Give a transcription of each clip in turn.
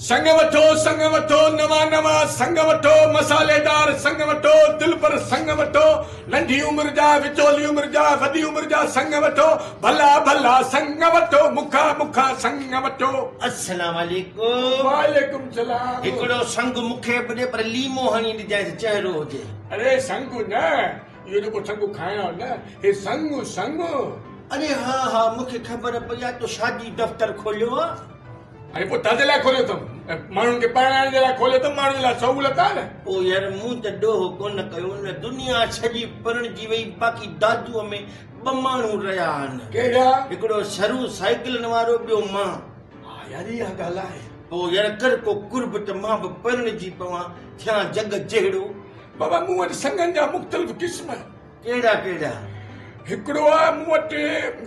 سڱ وٺو سڱ وٺو نوان نوان سڱ وٺو مصالحيدار سڱ وٺو دلبر سڱ وٺو ننڍي عمر جا وچولي عمر جا وڏي عمر جا سڱ وٺو ڀلا ڀلا سڱ وٺو مکا مکا سڱ وٺو. السلام عليڪم. وعليڪم سلام. هڪڙو سڱ مونکي به ڏي پر ليمو هڻي ڏجانس چهرو هجي. اڙي سڱ نه اهو جيڪو سڱ کائڻ آيو نه هي سڱ سڱ. اڙي ها ها مونکي خبر پئي آهي تو شادي دفتر کوليو آهي. ۽ پوء تنهنجي لاء کوليو اٿم ۽ ماڻهن کي پرڻائڻ جي لاء کوليو اٿم، ماڻهن لاء سهولت آهي نه. او يار مون ته ڏوهه ڪونه ڪيو نه دنيا سڄي پرڻجي وئي باقي دادوء ۾ ٻه ماڻهو رهيا آهن. ڪهڙا؟ هڪڙو سرو سائيڪلن وارو ٻيو مان. ها يار اها ڳالهه آهي. او يار ڪر ڪو قرب ته مان به پرڻجي پوان ٿيان جڳ جهڙو. بابا مون وٽ سڱن جا مختلف قسم. ڪهڙا ڪهڙا؟ هڪڙو آهي مون وٽ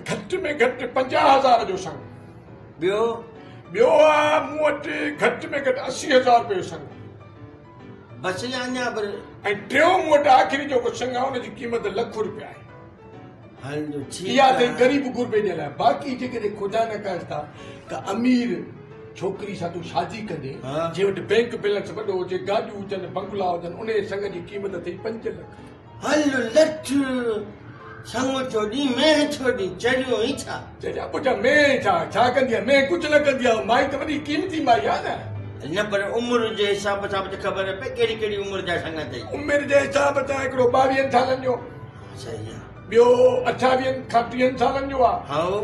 گهٽ ۾ گهٽ پنجاهه هزار جو سڱ. ٻيو؟ ٻيو آ مون وٽ گهٽ ۾ گهٽ اسي هزار رپيو سڱ. بس يا اڃا به؟ ۽ ٽيون مون وٽ آخري جيڪو سڱ آ ان جي قيمت لک رپيا آهي. هل جو ٺيڪ آ. اها اٿئي غريب غربي جي لاء. باقي جيڪڏهن خدا نخواسته ڪا امير ڇوڪري سان تون شادي ڪندين، جنهن وٽ بئنڪ بيلنس وڏو هجي، گاڏيون هجن، بنگلا هجن، انهيء سڱ جي قيمت اٿئي پنج لک. هل لٺ، سڱ چوڏهين مينهن ڇوڏي چڙهيون ئي ڇا؟ چريا پٽ مينهن ڇا، ڇا ڪندي آهي مينهن ڪجهه نه ڪندي آهي مائي ته وڏي قيمتي مائي آهي نه. نه پر عمر جي حساب سان به ته خبر نه پئي ڪهڙي ڪهڙي عمر جا سڱ اٿئي. عمر جي حساب سان هڪڙو ٻاويهن سالن جو. صحيح آ. ٻيو اٺاويهن کان ٽيهن سالن جو آ. هائو.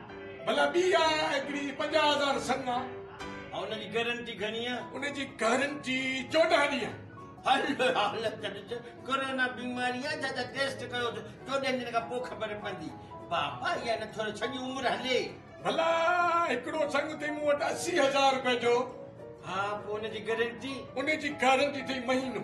ڀلا ٻي آ هڪڙي پنجاهه هزار سڱ آ. ها ان جي گئرنٽي گهڻي آ؟ ان جي گئرنٽي چوڏهن ڏينهن. هل هل تڏهن ڪورونا بيماري آ جا جا ٽيسٽ ڪيو ٿو چوڏهن ڏينهن کان پوء خبر پوندي بابا اها نه ٿوري سڄي عمر هلي. ڀلا هڪڙو سڱ اٿئي مون وٽ اسي هزار روپين جو. ها پوء ان جي گئرنٽي؟ ان جي گئرنٽي اٿئي مهينو.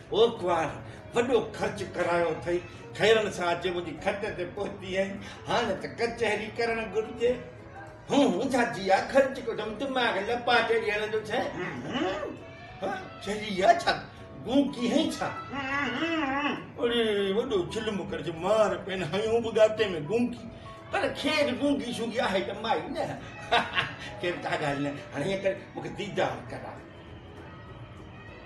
پوکوار وڏو خرچ ڪرايو اٿئي، خيرن سان اچي منهنجي کٽ تي پهتي آهين، هاڻ ته ڪچهري ڪرڻ گهرجي. هون هون ڇا جيا خرچ ڪندم، دماغ لپا چڙهي هلندو ٿئي. هه هه چڙهي يا ڇا، گون ڪي هئين ڇا؟ اڙي وڏو چلم ڪرج مار پين هنيو به ڳاتي ۾ گونگي، پر خير گونگي شونگي آهي ته مائي نه. خير ڪا ڳالهه نه، هاڻ هيئن ڪر مون کي ديدار ڪراء.